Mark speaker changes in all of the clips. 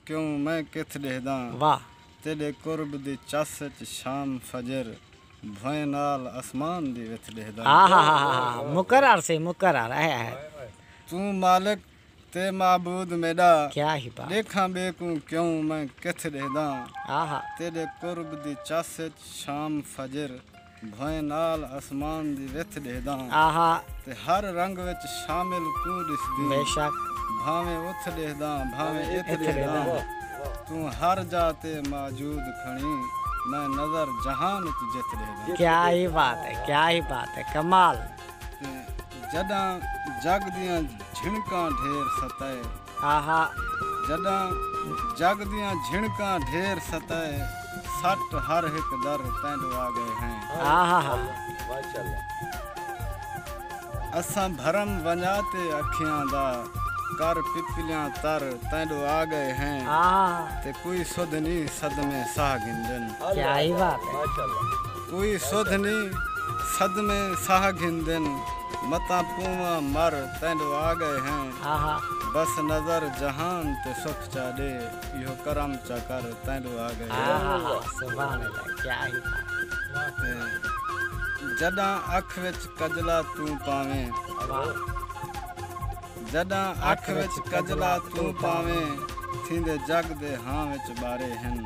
Speaker 1: کیوں میں کتھ ݙیہداں تیݙے قرب دی چس ءچ شام فجر بھوئیں نال اسمان دی وتھ ݙیہداں توں مالک تے معبود میݙا ݙیکھاں ٻئے کوں کیوں میں کتھ ݙیہداں تیݙے قرب دی چس ءچ شام فجر بھوئیں نال اسمان دی وتھ ݙیہداں تے ہر رنگ وچ شامل کوں ݙسدیں بھانویں اتھ ݙیہداں بھانویں اتھ ݙیہداں توں ہر جا تے موجود کھڑیں میں نظر جہان ءچ جتھ ݙیہداں۔ کیا ہی بات ہے کیا ہی بات ہے کمال۔ تے جݙاں جڳ دیاں جھنکاں ڈھیر ستائے۔ آہا۔ جݙاں جڳ دیاں جھنکاں ڈھیر ستائے۔ سٹ ہر ہک در تینڈو آ ڳئے ہیں۔ آہا۔ اساں بھرم ونڄا تے اکھیاں دا کر پپلیاں تر تینڈو آ ڳئے ہیں۔ آہا۔ تے کوئی سدھ نی صدمے ساہ گھندن۔ کیا ہی بات ہے۔ کوئی سدھ نی صدمے ساہ گھندن متاں پونواں مر تینڈو آ گئے ہیں بس نظر جہان تے سکھ چا ڈے ایہو کرم چا کر تینڈو آ گئے ہیں جڈاں اکھ وچ کجلا توں پاویں جڈاں اکھ وچ کجلا توں پاویں تھیندے جگ دے ہاں وچ بارے ہیں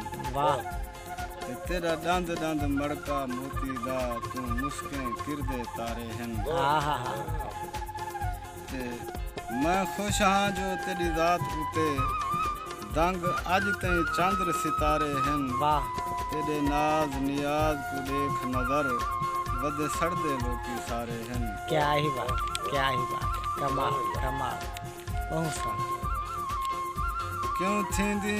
Speaker 1: تے تیڈا ڈند ڈند مڑکا موتی دا توں مسکیں کردے تارے ہن تے میں خوش ہاں جو تیڈی ذات اتے دنگ اج تیں چندر ستارے ہن تیڈے ناز نیاز کوں ڈیکھ نظر ودے سڑدے لوکی سارے ہن کیا ہی بات کیا ہی بات کمال کمال بہت سن کیوں تھیندی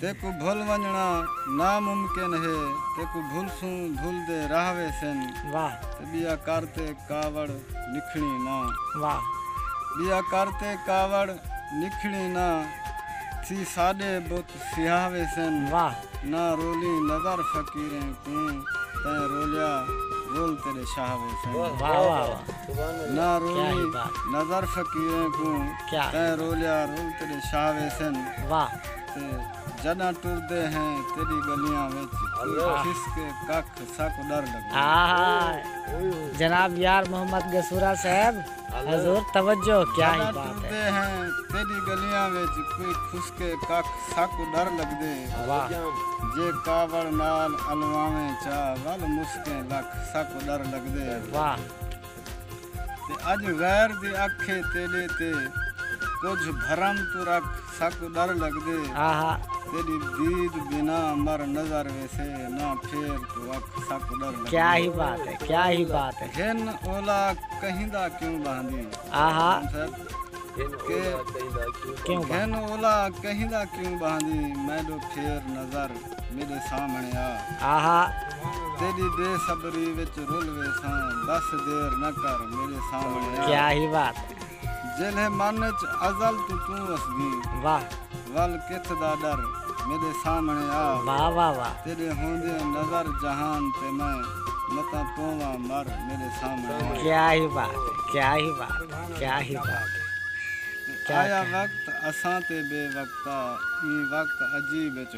Speaker 1: تیکوں بھل ونجنڑا نا ممکن ہے تیکوں بھلسوں بھل دے راہ ویسن واہ تے بیا کر تے کاوڑ نکھنڑی نا واہ بیا کر تے کاوڑ نکھنڑی نا تھی ساڈے بت سیاہ ویسن واہ نا رولیں نظر فقیریں کوں تیں رولیا رول تیڈے شاہ ویسن واہ واہ واہ نا رولیں نظر فقیریں کوں کیا تیں رولیا رول تیڈے شاہ ویسن واہ تے جڈاں ٹردے ہیں تیڈی گلیاں وچ کھس کے ککھ ساکوں ڈر لگدے آہا جناب یار محمد گسورا صاحب حضور توجہ کیا ہی بات ہے جڈاں ٹردے ہیں تیڈی گلیاں وچ کوئی کھس کے ککھ ساکوں ڈر لگدے واہ جے کاوڑ نال الواویں چا ول مسکیں لکھ ساکوں ڈر لگدے واہ۔ تے اج غیر دے اکھے تیڈے تے کجھ بھرم تو رکھ سک ڈر لگدے تیڈی دید بنا مر نظر ویسے نہ پھیر تو اکھ سک ڈر لگدے کیا ہی بات ہے کیا ہی بات ہے ہن اولا کہیں دا کیوں باندی آہا ہن اولا کہیں دا کیوں باندی میں دو پھیر نظر میڈے سامنے آ آہا تیری بے صبری وچ رول ویساں بس دیر نہ کر میرے سامنے آ کیا ہی بات جلے من وچ ازل تو تو اس گی واہ ول کتھ دا ڈر میرے سامنے آ واہ واہ واہ تیرے ہوندے نظر جہان تے میں متا پووا مر میرے سامنے آ کیا ہی بات کیا ہی بات کیا ہی بات آیا وقت اساں تے بے وقتا ای وقت عجیب وچ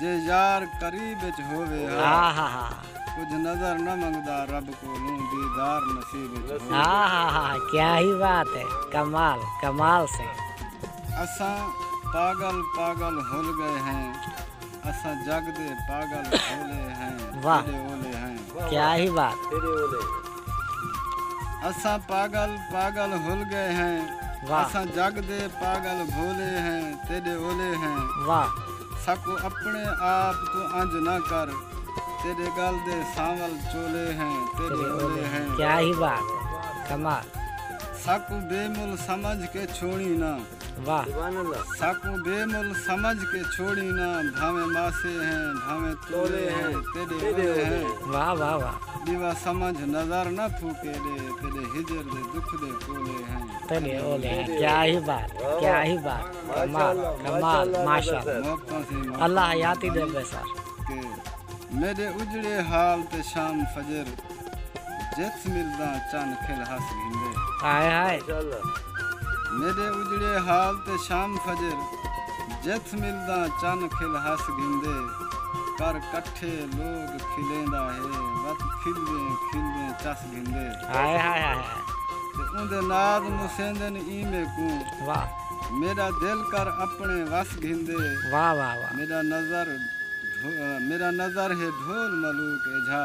Speaker 1: جے یار قریب وچ ہووے ہا کجھ نظر نہ منگدا رب کولوں دیدار نصیب وچ ہووے ہا کیا ہی بات ہے کمال کمال سے اساں پاگل پاگل ہل گئے ہیں اساں جگ دے پاگل ہولے ہیں واہ کیا ہی بات اساں پاگل پاگل ہل گئے ہیں اساں جگ دے پاگل بھولے ہیں تیڈے اولے ہیں ساکوں اپنے آپ توں انج نہ کر تیڈے گل دے سانول چولے ہیں تیڈے اولے ہیں کیا ہی بات ہے کمال ساکوں بے مل سمجھ کے چھوڑی نہ واہ سبحان اللہ ساکوں بے مل سمجھ کے چھوڑی نا بھاویں ماسے ہیں بھاویں تولے ہیں تیڈے اولے ہیں واہ واہ واہ دیوا سمجھ نظر نہ پھوکے دے تیڈے ہجر دے دکھ دے کولے ہیں تیڈے اولے ہیں کیا ہی بات کیا ہی بات کمال کمال ماشاءاللہ اللہ حیاتی دے بے سر میرے اجڑے حال تے شام فجر جتھ ملدا چن کھل ہس گھندے۔ ہائے ہائے۔ میڈے اجڑے حال تے شام فجر۔ جتھ ملدا چن کھل ہس گھندے۔ کر کٹھے لوگ کھلیندا ہے۔ وت کھلدیں کھلدیں چس گھندے۔ ہائے ہائے ہائے ہائے۔ تے اوندے ناز مسیندن ایں میکوں۔ واہ۔ میڈا دل کر اپنے وس گھندے۔ واہ واہ واہ۔ میڈا نظر میڈا نظر ہے ڈھول ملوک ایجھا۔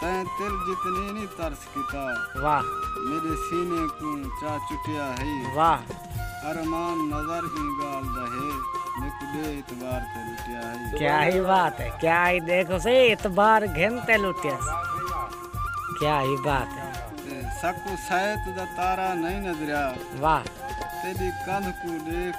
Speaker 1: تیں تل جتنی نی ترس کیتا۔ واہ۔ میڈے سینے کوں چا چٹیا ہئی۔ واہ۔ ارمان نظر ایں گالھ دا ہے میکوں بے اعتبار تے لٹیا ہئی۔ کیا ہی بات ہے کیا ہی دیکھو سے اعتبار گھن تے لٹیا سے کیا ہی بات ہے۔ ساکوں سائت دا تارا نئیں نظریا۔ واہ۔ تیڈی کندھ کوں ڈیکھ